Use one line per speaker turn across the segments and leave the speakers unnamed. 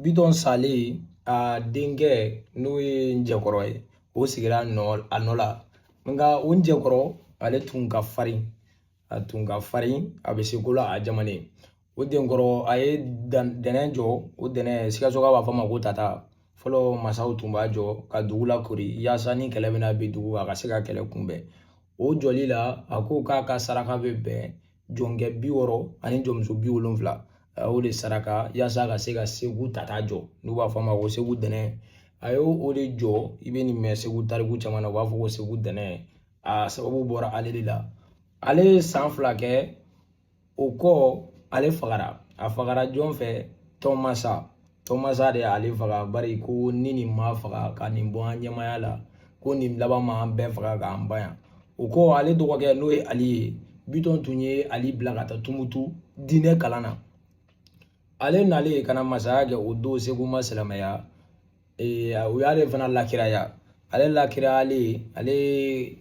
Bitɔn salen a denkɛ n'o ye njɛkɔrɔ ye o sigira a nɔ la nka o njɛkɔrɔ ale tun ka farin a tun ka farin a bɛ se ko la a jamalen o denkɔrɔ a ye dɛnɛn jɔ o dɛnɛn sikasokaw b'a fɔ ma ko tata fɔlɔ masaw tun b'a jɔ ka dugu lakoori yaasa ni kɛlɛ bɛna bin dugu a ka se ka kɛlɛ kunbɛn o jɔli la a ko k'a ka saraka bɛ bɛn jɔnkɛ bi wɔɔrɔ ani jɔnmuso bi wolonfila a y'o de saraka yaasa ka se ka segu tata jɔ n'u b'a fɔ a ma ko segu dɛnɛn a y'o de jɔ i bɛ nin mɛn segu tariku caman na u b'a fɔ ko segu dɛnɛn a sababu bɔra ale de la ale ye san fila kɛ o kɔ ale fagara a fagara jɔn fɛ tɔnmasa tɔnmasa de y'ale faga bari ko ni nin ma faga ka nin bɔ an ɲɛmaaya la ko nin laban ma an bɛɛ faga k'an ban yan o kɔ ale dɔgɔkɛ n'o ye ali ye bitɔn tun ye ali bila ka taa tumutu diinɛ kalan na ale nalen ka na masaya kɛ o don segu ma silamɛya u y'ale fana lakiraya ale lakirayalen ale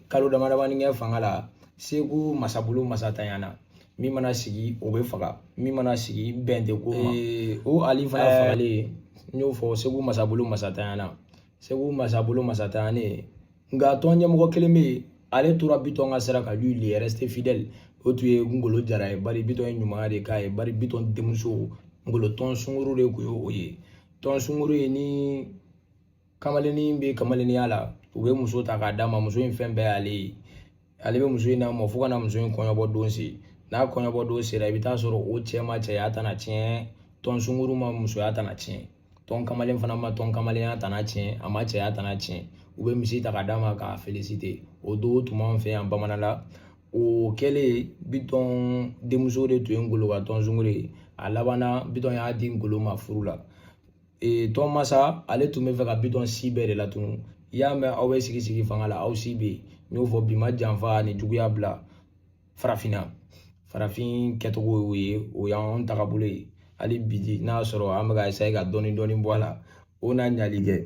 kalo damadamanin kɛ fanga la segu masabolo masantanyana min mana sigi o bɛ faga min mana sigi bɛn tɛ k'o ma o ali fana fagalen n y'o fɔ segu masabolo masantanyana segu masabolo masantanyanen nka tɔn ɲɛmɔgɔ kelen bɛ yen ale tora bitɔn ka sira kan lui il est resté fidèle o tun ye ngolo jara ye bari bitɔn ye ɲumanya de k'a ye bari bitɔn denmuso ngolo tɔn sunguru de tun ye o ye tɔn sunguru ye ni kamalennin bɛ kamalenninya la u bɛ muso ta k'a d'a ma muso in fɛn bɛɛ y'ale ye ale bɛ muso in namɔ fo ka na muso in kɔɲɔbɔ don se n'a kɔɲɔbɔ don sera i bɛ taa sɔrɔ o cɛ ma cɛya tana tiɲɛ tɔn sunguru ma musoya tana tiɲɛ tɔn kamalen fana ma tɔn kamalenya tana tiɲɛ a ma cɛya tana tiɲɛ u bɛ misi ta k'a d'a ma k'a féliciter o don tun b'an fɛ yan bamanan la o kɛlen bitɔn denmuso de tun ye ngolo ka tɔn sunguru ye a labanna bitɔn y'a di ngolo ma furu la ee tɔnmasa ale tun bɛ fɛ ka bitɔn si bɛɛ de latunu i y'a mɛn aw bɛ sigi sigi fanga la aw si bɛ yen n y'o fɔ bi ma janfa ani juguya bila farafinna farafin kɛcogo y'o ye o y'an tagabolo ye hali bi n'a sɔrɔ an bɛ ka essayer ka dɔɔnin dɔɔnin bɔ a la o n'a ɲali kɛ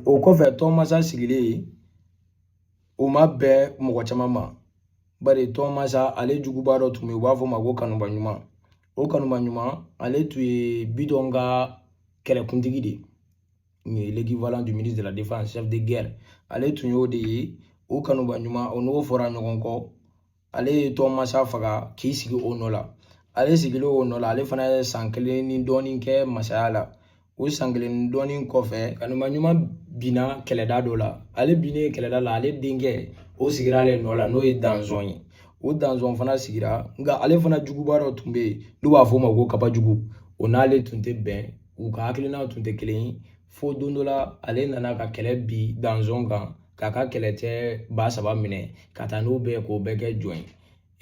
o kɔfɛ tɔnmasa sigilen o ma bɛn mɔgɔ caman ma bari tɔnmasa ale juguba dɔ tun bɛ yen u b'a fɔ o ma ko kanuba ɲuman o kanuba ɲuman ale tun ye bitɔn ka kɛlɛkuntigi de ye l'équivalent du ministre de la défense chef de guerre ale tun y'o de ye o kanuba ɲuman o n'o fɔra ɲɔgɔn kɔ ale ye tɔnmasa faga k'i sigi o nɔ la ale sigilen o nɔ la ale fana ye san kelen ni dɔɔnin kɛ masaya la o san kelen ni dɔɔnin kɔfɛ kanuma ɲuman binna kɛlɛda dɔ la ale binnen kɛlɛda la ale denkɛ o sigira ale nɔ la n'o ye danzɔn ye o danzɔn fana sigira nka ale fana juguba dɔ tun bɛ yen n'u b'a fɔ o ma ko kabajugu o n'ale tun tɛ bɛn u ka hakilinaw tun tɛ kelen ye fo don dɔ la ale nana ka kɛlɛ bin danzɔn kan k'a ka kɛlɛcɛ ba saba minɛ ka taa n'o bɛɛ k'o bɛɛ kɛ jɔn ye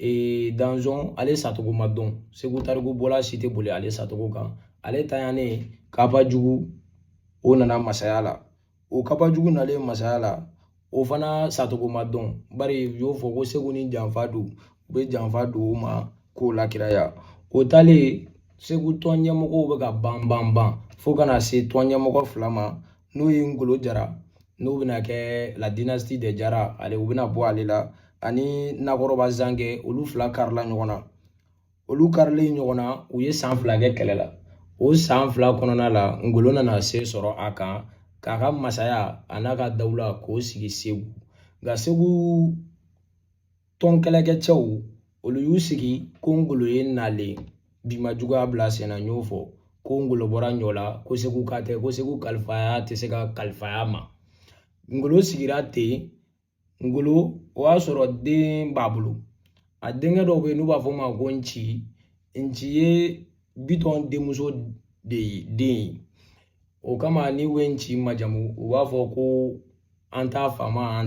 ee danzɔn ale sacogo ma dɔn segu tariku bɔla si tɛ boli ale sacogo kan ale tanyane kabajugu o nana masaya la o kabajugu nalen masaya la o fana sacogo ma dɔn bari u y'o fɔ ko segu ni janfa don u bɛ janfa don o ma k'o lakiraya o taalen segu tɔn ɲɛmɔgɔw bɛ ka ban ban ban fo ka na se tɔn ɲɛmɔgɔ fila ma n'o ye ngolo jara n'o bɛna kɛ la dynastie des jara ale u bɛna bɔ ale la ani nakɔrɔba zangɛ olu fila karila ɲɔgɔn na olu karilen ɲɔgɔn na u ye san fila kɛ kɛlɛ la o san fila kɔnɔna la ngolo nana se sɔrɔ a kan k'a ka masaya an'a ka dawula k'o sigi segu nka segu tɔn kɛlɛkɛcɛw olu y'u sigi ko ngolo ye nalen bi ma juguya bila sen na n y'o fɔ ko ngolo bɔra ɲɔla ko seguka tɛ ko segu kalifaya tɛ se ka kalifa a ma ngolo sigira ten ngolo o y'a sɔrɔ den b'a bolo a denkɛ dɔ bɛ yen n'u b'a fɔ o ma ko nci nci ye bitɔn denmuso de ye den ye o kama n'u bɛ nci majamu u b'a fɔ ko an t'a faama an ta